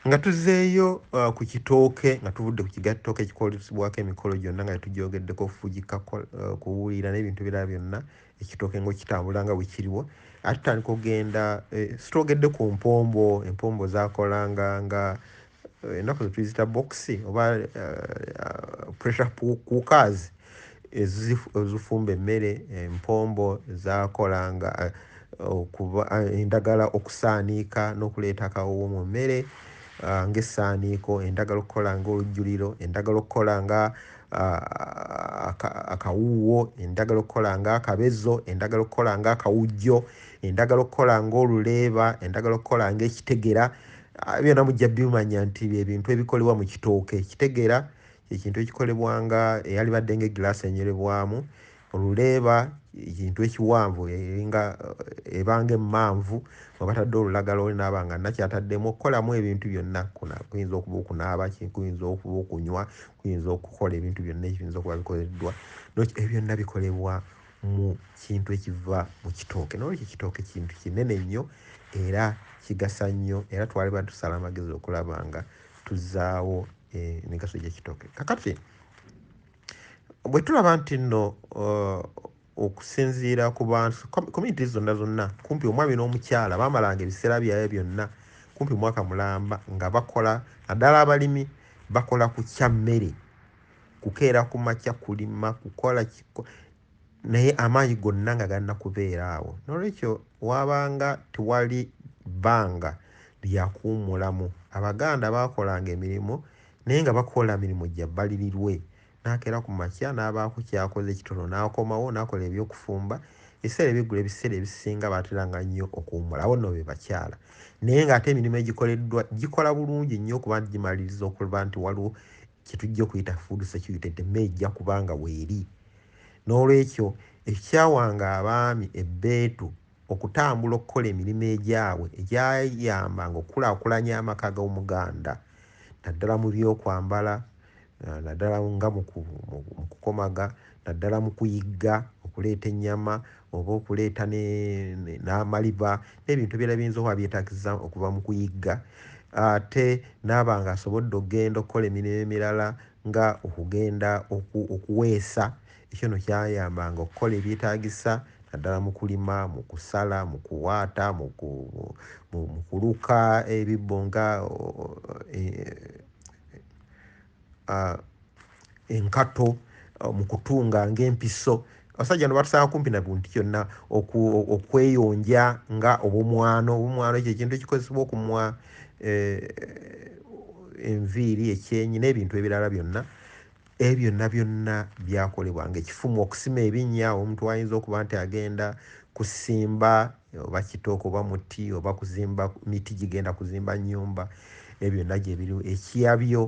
nga tuzeeyo uh, ku kitooke nga tuvudde ku kigattooke ekikolesebwako emikolo gyonna nga tetugyogeddeko okufugika uh, kuwulira n'ebintu birala byonna ekitooke ngaokitambula nga bwekiriwo ate tutandika okugenda eh, sitwogedde ku mpombo empombo zakolanga nga eh, ennaku zetuyizita bokisi oba eh, pressure kukazi ezifumba emmere empombo zakolanga okuba endagala okusaaniika n'okuleeta akawowo mu mmere ng'essaaniiko endagala okukola ng'olujjuliro endagala okukola nga akawuuwo endagala okukola ng'akabezo endagala okukola ng'akawujjo endagala okukola ng'oluleeba endagala okukola ng'ekitegera byonna mujja bimanya nti ebintu ebikolebwa mu kitooke ekitegera ekintu ekikolebwa nga eyalibadde nga egiraasi enywerebwamu oluleeba ekintu ekiwanvu eringa eh, ebanga emmanvu mwe batadde olulagala oli naaba nga nakyataddemu okukolamu ebintu byonna kuyinza okuba okunaaba kuyinza okuba okunywa kuyinza okukola ebintu byonna ekiyinza okuba bikoleddwa ebyo byonna bikolebwa mu kintu ekiva mu kitooke nolwekyo ekitooke kintu kinene nnyo era kigasa nnyo era twaliba tusala amagezi okulaba nga tuzaawo emigaso gyekitooke kakati bwe tulaba nti nno uh, okusinziira ku bantu community zonna zonna kumpi omwami n'omukyala bamalanga ebiseera byabwe byonna kumpi mwaka mulamba nga bakola naddala abalimi bakola ku kya mmere kukeera ku makya kulima kukola naye amaanyi gonna nga galina kubeera awo nolwekyo wabanga tewali bbanga lyakuwumulamu abaganda bakolanga emirimu naye nga bakola mirimu jabalirirwe nakera ku makya nabaako kyakoze ekitono nakomawo nakola ebyokufumba ebiseera ebyeggulo ebiseera ebisinga bateranga nnyo okuwumula abo nno bebakyala naye nga ate emirimu egikoleddwa gikola bulungi nnyo okuba nti gimaliriza okuba nti waliwo kyetujja okuyita food security nti emmere ejja kuba nga weeri n'olwekyo ekyawanga abaami ebbeetu okutambula okukola emirimu egyabwe egyayambanga okukulaakulanya amaka g'omuganda naddala mu byokwambala eh, naddala nga mu kukomaga naddala mu kuyigga okuleeta ennyama oba okuleeta n'amaliba n'ebintu ebirala biyinza okuba byetaagisa okuva mu kuyigga ate n'aba ng'asobodde okugenda okukola emirimu emirala nga okugenda okuweesa ekyo no kyayambanga okukola ebyetaagisa naddala mu kulima mu kusala mu kuwaata mu kuluka ebibbo nga e, uh, enkato uh, mu kutunga ng'empiso abasajja no batusanga kumpi na buntu kyonna okweyonja nga obumwano obumwano ekyo ekintu ekikozesebwa okumwa eh, enviiri ekyenyi n'ebintu ebirala byonna ebyo byonna byonna byakolebwa ngaekifumu okusima ebinnya omuntu ayinza okuba nti agenda kusimba oba kitooke oba muti oba kuzimba miti gigenda kuzimba nyumba ebyo byonna gyebiriwo ekiyabyo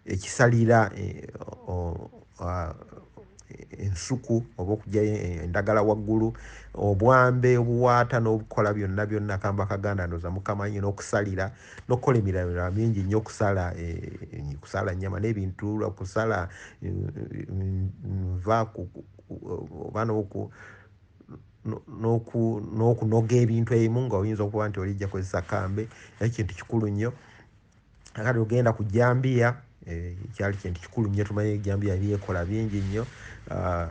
ekisalira e, ensuku oba okujayo endagala waggulu obwambe obuwaata n'obukola byonna byonna kamba kaganda ndoza mukamanyi n'okusalira n'okukola emirala mingi nnyo okusala e, kusala nyama n'ebintu kusala e, nva oba noku n'okunoga ebintu ebimu nga oyinza okuba nti olijja kozesa kambe naye kintu kikulu nnyo akati ogenda ku jambiya eh, kyali kintu kikulu nnyo tumanye jambiya byekola bingi nnyo ah,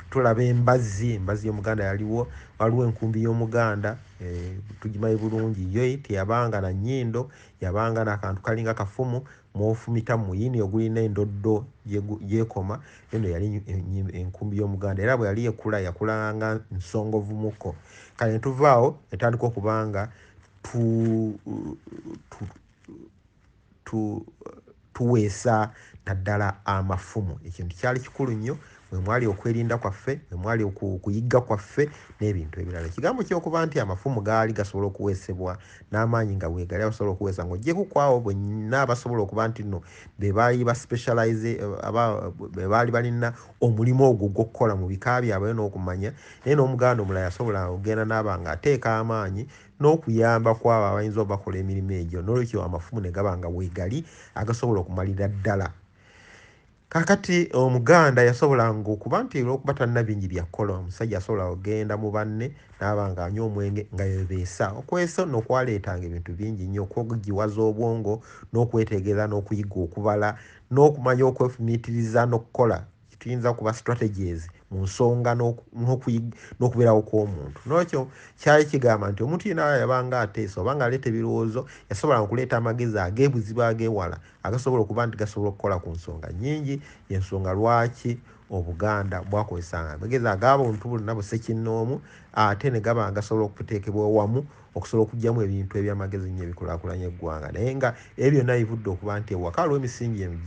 tulaba embazzi embazzi y'omuganda yaliwo waliwo enkumbi y'omuganda eh, tugimaye bulungi yo teyabanga na nyindo yabanga nakantu kalinga kafumu mwofumita muyini ogulina endoddo gyekoma eno yali enkumbi y'omuganda era bwe yali ekula yakulanga nsongovumuko kale netuvaawo netandika okubanga tuweesa naddala amafumu ekintu kyali kikulu nnyo mwe mwali okwerinda kwaffe mwe mwali okuyigga kwaffe n'ebintu ebirala ekigambo kyokuba nti amafumu gaali gasobola okuweesebwa n'amaanyi nga wegali abasobola okuweesa nga ojjeku kwaawo bwenna abasobola okuba nti no bebaali ba specialize bebaali balina omulimu ogwo gw'okukola mu bika byabwe n'okumanya naye n'omuganda omulala yasobola okugenda n'aba nga ateeka amaanyi n'okuyamba kwabo abayinza obakola emirimu egyo n'olwekyo amafumu ne gaba nga wegali agasobola okumalira ddala Kakati omuganda yasobolanga okuba nti olwokuba talina bingi byakukola omusajja asobola ogenda mu banne naaba nga anywa omwenge nga bebeesa okweso nokwaleetanga ebintu bingi nnyo okwogiwaza obwongo nokwetegerera nokuyiga okubala nokumanya okwefumiitiriza nokukola tuyinza kuba strategies mu nsonga nokubeerawo kwomuntu nokyo kyali kigamba nti omuntu yena yabanga ateesa obanga aleeta ebirowoozo yasobolanga okuleeta amagezi agebuzibu agewala agasobola okuba nti gasobola okukola ku nsonga nyingi yensonga lwaki obuganda bwakozesanga amagezi agabuntu bonna busekinnoomu ate ne gaba gasobola okuteekebwa owamu okusobola okugyamu ebintu ebyamagezi nnyo ebikulakulanya eggwanga naye nga ebyo byonna bivudde okuba nti ewaka lwemisingi